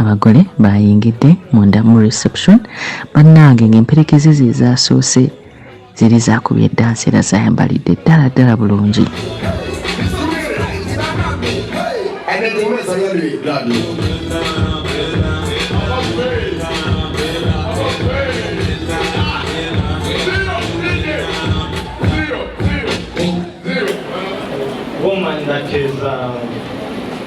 abagole bayingidde munda mu reception bannange ng'emperekeze ze zaasoose ziri zaakubye eddansi era zayambalidde ddala ddala bulungi Woman that is um,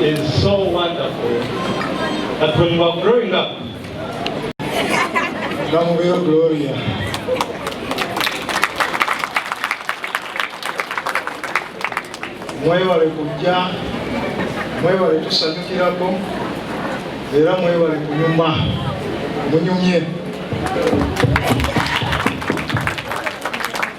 is so wonderful that when you are growing up, Come real Gloria. mwebale kujja mwebale tusanyukirako era mwebale kunyuma munyumye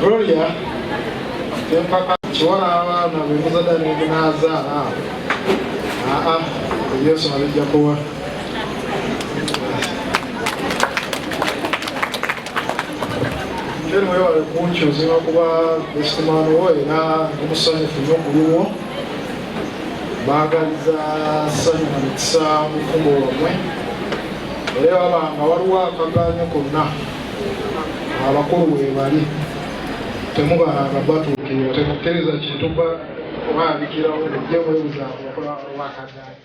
Gloria empaka kiwala abaana bemuzada nemunazaala aa yesu abijja kuwa Ken wewale kunkyuza kuba ekitimano wo era omusanyufu nyo kuliwo baagaliza ssanyu na mikisa mu fumbo lwammwe era baba nga waliwo akagaanyo konna abakulu webali temubalanga batuukirira temukkiriza kintu kubaalikirawo mujje mwebuzaako okola wakagaanyo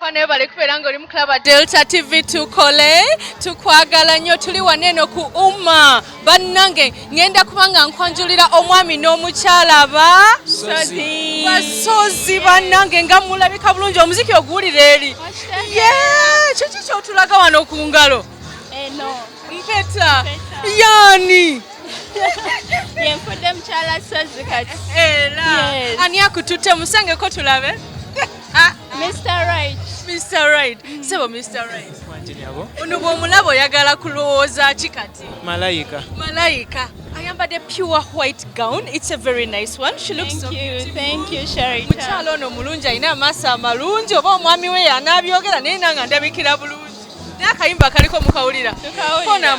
Fane bale kubera nga oli mu club Delta TV tukole tukwagala nyo tuli waneno ku umma bannange ngenda kubanga nkwanjulira omwami n'omukyala ba sozi basozi bannange nga mulabika bulungi omuziki oguwulira eri ye kiki kyotulaga wano ku ngalo eno mpeta yani yenfudde mukyala sozi kati era ani akututte musangeko tulabe Ah, Mr. Right. Mr. Right. Mm. Sebo Mr. Right. Kwanje nyabo. Ono bwomulabo yagala kulowooza ki kati? Malaika. Malaika. Ayambadde pure white gown. It's a very nice one. She looks Thank so you. Beautiful. Thank you, Sharita. Mukyalo ono mulungi alina amaaso amalungi oba omwami we yanabyogera naye nanga ndabikira bulungi. Naye akayimba kaliko mukawulira. Tukawulira.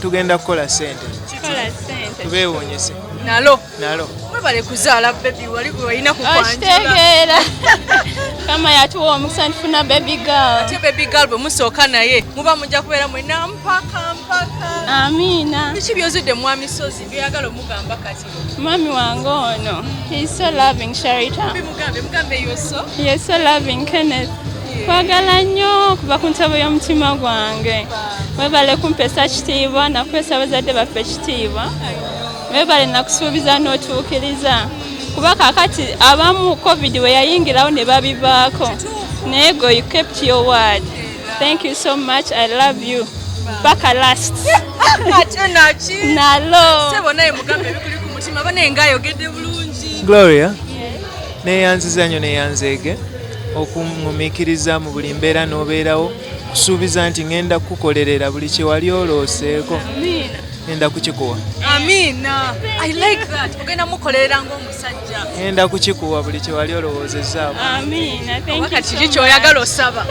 tugenda kukola sente tubewunyise nalo nalo webale kuzaala bebi wali walina kukitegeera kama yatuwa omukisa nifuna bebi gal ate bebi gal bwe musooka naye muba mujja kubeera mwena mpaka mpaka amiina biki byozudde mwamisozi byoyagala omugamba kati Mami wange ono. He's so loving Sharita. Mugambe mugambe you're so. You're so loving Kenneth. Kwagala nnyo kuva ku ntebe y'omutima gwange. Webale kumpesa kitiibwa na kumpesa bazadde baffe kitiibwa. Webale na kusuubiza n'otuukiriza. Kuba kakati abamu covid we yayingirawo ne babivaako. Naye go you kept your word. Thank you so much. I love you. Paka last. Ate naki? Nalo. Sebo naye mugambe bikuli ku mutima bana enga ayogedde bulungi. Gloria. Yes. Neyanziza nnyo neyanzeege okungumikiriza mu buli mbeera n'obeerawo kusuubiza nti ngenda kukukolerera buli kye wali olooseeko ngenda kukikuwa. Amina. I like that. Ogenda mukolerera ng'omu ngenda kukikuwa buli kyewali olowoozezaamu kiki kyoyagala osaba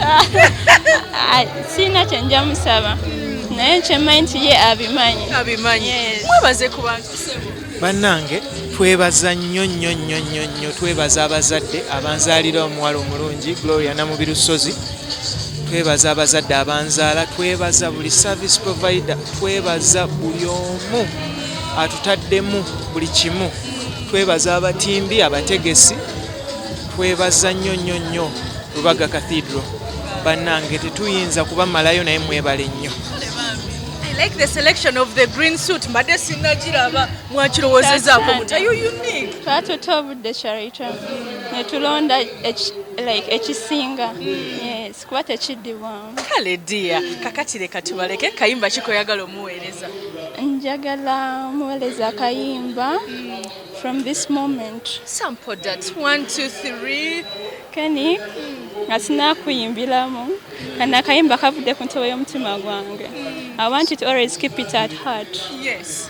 sirina kyenja musaba naye kyemanyi nti ye abimanyi abimanyi mwebaze ku bantu bannange twebaza nnyo nnyo nnyo nnyo nnyo twebaza abazadde abanzaalira omuwala omulungi gloria namubiru ssozi twebaza abazadde abanzaala twebaza buli service provider twebaza buli omu atutaddemu buli kimu Twebaza abatimbi, abategesi, twebaza nnyo nnyo nnyo Lubaga Cathedral. Bannange tetuyinza kubamalayo naye mwebale nnyo. like the selection of the green suit mbadde sinnagiraba mwakirowoozezako twatuta obudde charita ne tulonda ekisinga yes kuba tekiddibwamu kale dia kakati leka tubaleke kayimba kikoyagala omuweereza njagala muweereza akayimba mm. from this moment sample that one two three kani mm. nga sinakuyimbiramu mm. kana akayimba kavudde ku ntobo y'omutima gwange mm. i want it always keep it at heart yes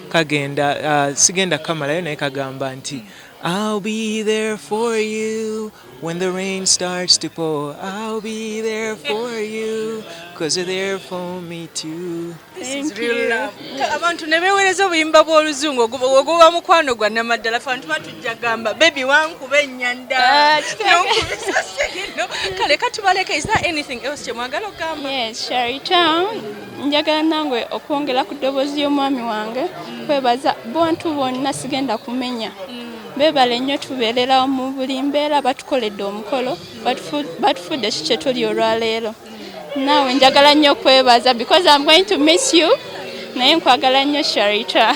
kagenda uh, sigenda kamalayo naye kagamba nti I'll be there for you when the rain starts to pour I'll be there for you cause you're there for me too abantu ne beewereza obuyimba bw'oluzungu oguba mukwano gwa namaddala fe abantu batujja gamba bebi wankuba ennyanda ah, kale katubaleka is there anything else kyemwagala okugamba njagala nange okwongera ku ddoboozi y'omwami wange kwebaza bantu bonna sigenda kumenya bebale nnyo tubeerera mu buli mbeera batukoledde omukolo batufudde ki kyetuli olwaleero naawe njagala nnyo kwebaza because am going to miss you naye nkwagala nnyo sharita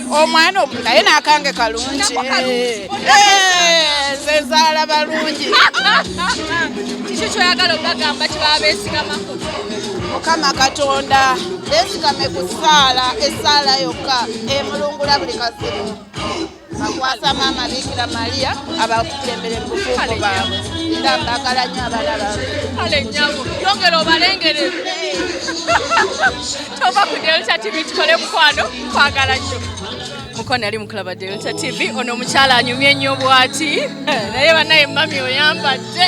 omwana naye nakange kalungi eh, eh, zezaala balungi kiki kyoyagala okubagamba kibabesigamako mukama katonda besigame ku saala esaala yokka emulungula buli kazibu bakwasa maama bikira maria abakulembere mubufuuko baabwe era mbagala nyo abana baabwe kale nyabo yongera obalengere tova kudyolesa tibi tukole mukwano kwagala nnyo muko nali mukulaba delta tv ono omukyala anyumye ennyo bwati naye banaye mami oyambadde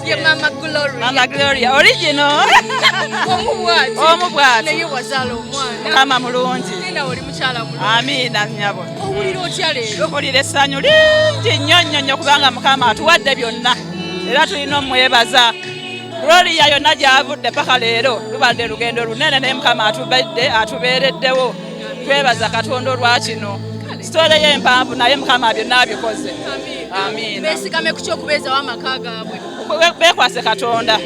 ye mama gloriamama gloria origino omu bwati omu bwati naye wazaala omwana kama mulungi nina oli mukyala mulungi amiina nyabo owulira otya leero owulira essanyu lingi nnyo nnyo nnyo kubanga mukama atuwadde byonna era tulina omwebaza Gloria yonna gyavudde paka leero lubadde lugendo lunene naye mukama atubedde atubeereddewo twebaza katonda olwa kino sitole ye empanvu naye mukama byonna abikoze besigame ku kyokubeezawo amaka gaabwe bekwase katonda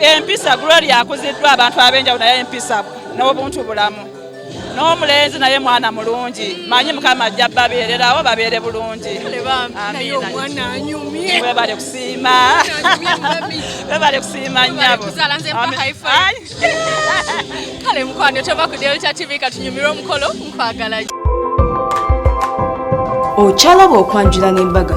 empisa gloria akuziddwa abantu ab'enjawulo naye empisa n'obuntu bulamu n'omulenzi naye mwana mulungi manyi mukama ajja babeererawo babeere bulungi webale kusiima webale kusiima nyabo kale mukwano tova ku delta tv katunyumire omukolo nkwagala okyalaba okwanjula n'embaga